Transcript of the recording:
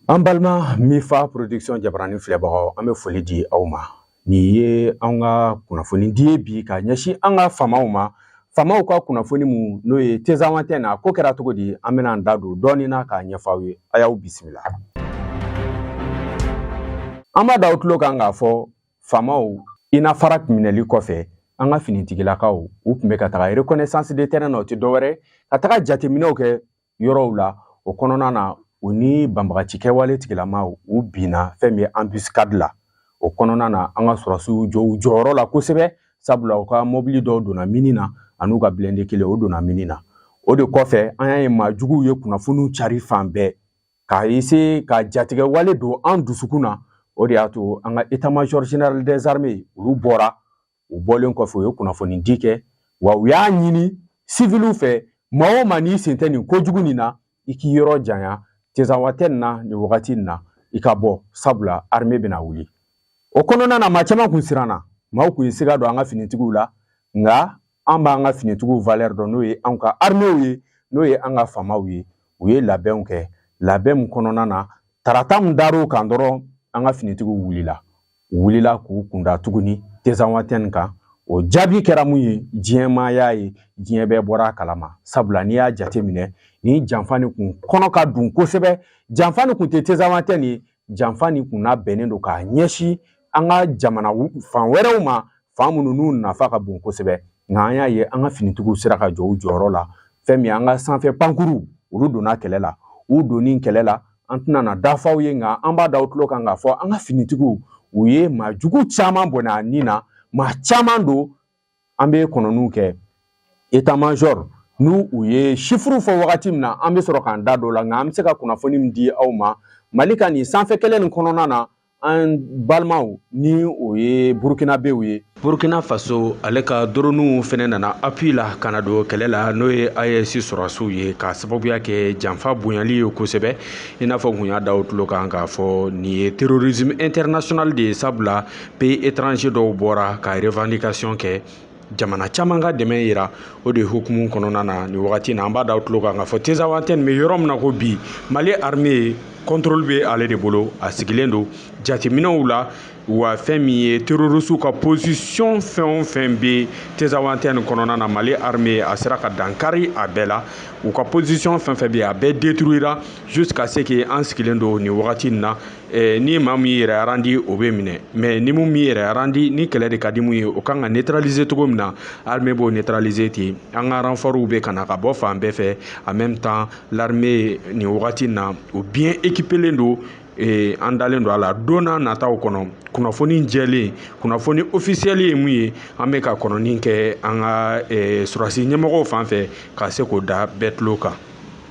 An balima Mifa production jabarani filɛbagaw an bɛ foli di aw ma Nin ye an ka kunnafoni di bi ka ɲɛsin an ka famaw ma famaw ka kunnafoni minnu n'o ye tezanwatɛni ko kɛra cogo di an bɛna an da don dɔɔnin na k'a ɲɛfɔ aw ye a y'aw bisimila an b'a da aw tulo kan k'a fɔ famaw Inafara minɛli kɔfɛ an ka finitigilakaw u tun bɛ ka taga reconnaissance de terrain na o tɛ dɔwɛrɛ ka taga jateminɛw kɛ yɔrɔw la o kɔnɔna na u ni banbagaci kɛwale tigilama u binna fɛn min ye embuscade la o kɔnɔna na an ka sɔrɔsiw jɔ u jɔyɔrɔ la kosɛbɛ sabula u ka mɔbili dɔw donna mini na an'u ka blindé kelen o donna mini na o de kɔfɛ an y'a ye maa juguw ye kunnafoniw cari fan bɛɛ ka essayer ka jatigɛwale don an dusukun na o de y'a to an ka état-major général des armées olu bɔra u bɔlen kɔfɛ u ye kunnafoni di kɛ wa u y'a ɲini siviliw fɛ maa o maa n'i sen tɛ nin kojugu nin na i k'i yɔrɔ janya tezanwatɛni na nin wagati nin na i ka bɔ sabula armée bɛna wuli o kɔnɔna na maa caman kun siranna maaw kun ye siga don an ka finitigiw la nka an b'an ka finitigiw valeur dɔn n'o ye an ka arméew ye n'o ye an ka famaw ye u ye labɛnw kɛ labɛn min kɔnɔna na tarata min dar'o kan dɔrɔn an ka finitigiw wulila wulila k'u kunda tuguni tezanwatɛni kan o jaabi kɛra mun ye diɲɛ maa y'a ye diɲɛ bɛɛ bɔra a kalama sabula n'i y'a jateminɛ nin janfa nin kun kɔnɔ ka dun kosɛbɛ janfa nin kun tɛ tezanwatɛni ye janfa nin kun labɛnnen don k'a ɲɛsin an ka jamana fan wɛrɛw ma fan minnu n'u nafa ka bon kosɛbɛ nka an y'a ye an ka finitigiw sera ka jɔ u jɔyɔrɔ la fɛn min an ka sanfɛ pankurun olu donna kɛlɛ la u donni kɛlɛ la an tɛna na da f'aw ye nka an b'a da aw tulo kan k'a fɔ an ka finitigiw u ye maa jugu caman bɔnɛ a ni na maa caman don an bɛ kɔnɔniw kɛ état-major ni u ye chiffre fɔ wagati min na an bɛ sɔrɔ k'an da don o la nka an bɛ se ka kunnafoni min di aw ma mali ka nin sanfɛ kɛlɛ nin kɔnɔna na an balimaw ni o ye burukinabew ye burukina faso ale ka doroniw fɛnɛ nana appui la ka na don kɛlɛ la n'o ye AES sɔrɔsiw ye k'a sababuya kɛ janfa bonyali ye kosɛbɛ i n'a fɔ kun y'a da aw tulo kan k'a fɔ nin ye terrorisme international de ye sabula pays étranger dɔw bɔra ka revendication kɛ jamana caman ka dɛmɛ yira o de hukumu kɔnɔna na ni wagati na an b'a da aw tulo kan k'a fɔ tezanwatɛni bɛ yɔrɔ min na ko bi mali armée contrôle bɛ ale de bolo a sigilen don jateminɛw la wa fɛn min ye terroriste ka position fɛn o fɛn bɛ tezanwatɛni kɔnɔna na mali armée a sera ka dankari a bɛɛ la u ka position fɛn fɛn bɛ a bɛɛ détruira jusqu'à ce qu'an sigilen don ni wagati in na Eh, ni maa min yɛrɛ arandi o bɛ minɛ mais ni min m'i yɛrɛ arandi ni kɛlɛ de ka di mun ye o kan ka neutraliser cogo min na armée b'o neutraliser ten an ka renfortw bɛ ka na ka bɔ fan bɛɛ fɛ en même temps l'armée nin wagati na o bien équipelen don eh, an dalen don a la don n'a nataw kɔnɔ kunnafoni jɛlen kunnafoni ofisiyɛli ye mun ye an bɛ ka kɔnɔni kɛ an ka eh, sɔrɔdasi ɲɛmɔgɔw fan fɛ ka se k'o da bɛɛ tulo kan